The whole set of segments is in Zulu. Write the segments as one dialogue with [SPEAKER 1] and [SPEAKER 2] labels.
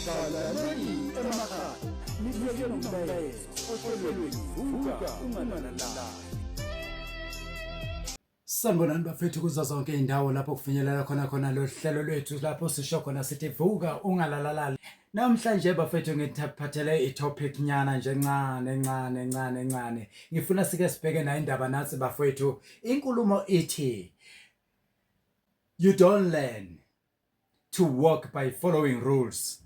[SPEAKER 1] Balaleli emakhaya nibuyeke nomlayezo ohlelweni vuka ungananala Sanibonani bafethu kuzo zonke izindawo lapho kufinyelela khona khona lo hlelo lwethu lapho sisho khona sithi vuka ungalalalali Namhlanje bafethu ngithaphathele i-topic nyana nje ncane ncane ncane ncane. Ngifuna sike sibheke nayo indaba nathi bafethu. Inkulumo ithi You don't learn to walk by following rules,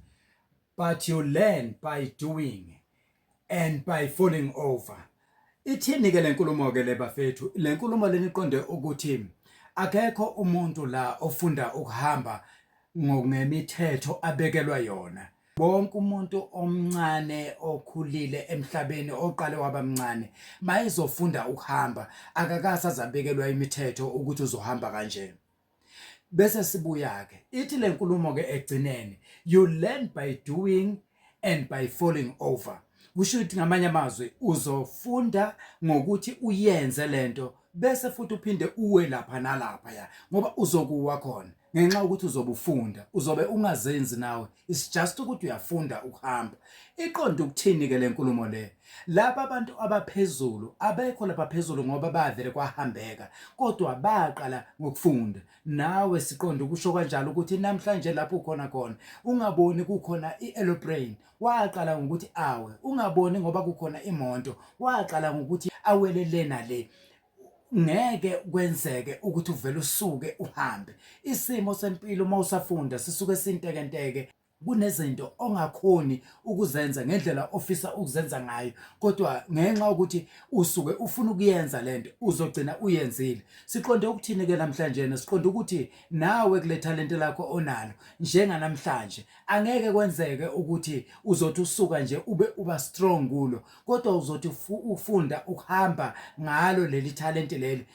[SPEAKER 1] but you learn by doing and by falling over. Ithini ke lenkulumo ke le bafethu? Lenkulumo leniqonde ukuthi akekho umuntu la ofunda ukuhamba ngemithetho abekelwa yona. Wonke umuntu omncane okhulile emhlabeni oqale waba mncane mayezofunda ukuhamba akakase azabekelwa imithetho ukuthi uzohamba kanjena bese sibuya ke ithi lenkulumo ke egcineni you learn by doing and by falling over kusho ukuthi ngamanye amazwi uzofunda ngokuthi uyenze lento bese futhi uphinde uwe lapha nalapha ya ngoba uzokuwa khona ngenxa ukuthi uzobufunda uzobe ungazenzi nawe it's just ukuthi uyafunda ukuhamba iqonda ukuthini ke lenkulumo le laba abantu abaphezulu abekho lapha phezulu ngoba bavele kwahambeka kodwa baqala ngokufunda nawe siqonda ukusho kanjalo ukuthi namhlanje lapho ukhona khona ungaboni kukhona i-aeroplane Waqala ngokuthi awe, ungaboni ngoba kukhona imoto. Waqala ngokuthi awele le nale. Ngeke kwenzeke ukuthi uvele usuke uhambe. Isimo sempilo uma usafunda sisuke sintekenteke kunezinto ongakhoni ukuzenza ngendlela ofisa ukuzenza ngayo kodwa ngenxa ukuthi usuke ufuna ukuyenza lento uzogcina uyenzile siqonde ukuthini ke namhlanje siqonde ukuthi nawe kule talente lakho onalo njenganamhlanje Angeke kwenzeke ukuthi uzothi usuka nje ube uba strong kulo kodwa uzothi ufunda ukuhamba ngalo leli talent leli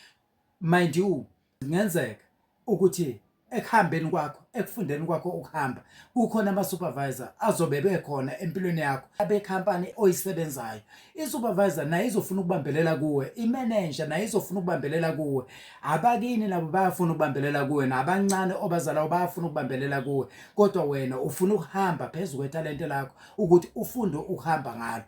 [SPEAKER 1] mind you ngenzeka ukuthi ekuhambeni kwakho ekufundeni kwakho ukuhamba kukhona ama-supervisor azobe bekhona empilweni yakho abekhampani oyisebenzayo isupervisor naye izofuna ukubambelela kuwe imanager naye izofuna ukubambelela kuwe abakini nabo bayafuna ukubambelela kuwe nabancane obazalayo bayafuna ukubambelela kuwe kodwa wena ufuna ukuhamba phezulu kwethalente lakho ukuthi ufunde ukuhamba ngalo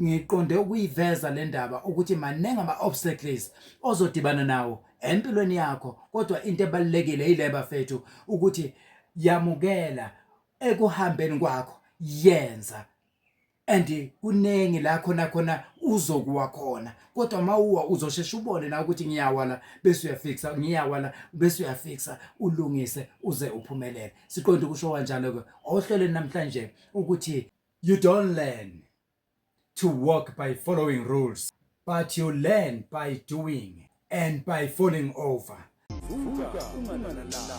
[SPEAKER 1] ngiqonde ukuyiveza le ndaba ukuthi maningi ama-obstacles ozodibana nawo empilweni yakho kodwa into ebalulekile yile bafethu ukuthi yamukela ekuhambeni kwakho yenza and kuningi la khona khona uzokuwa khona kodwa uma uwa uzosheshe ubone na ukuthi ngiyawa la bese uyafikisa ngiyawa la bese uyafikisa ulungise uze uphumelele siqonde ukusho kanjalo ke ohlelweni namhlanje ukuthi you don't learn to walk by following rules but you learn by doing and by falling over Vuka, unganalala.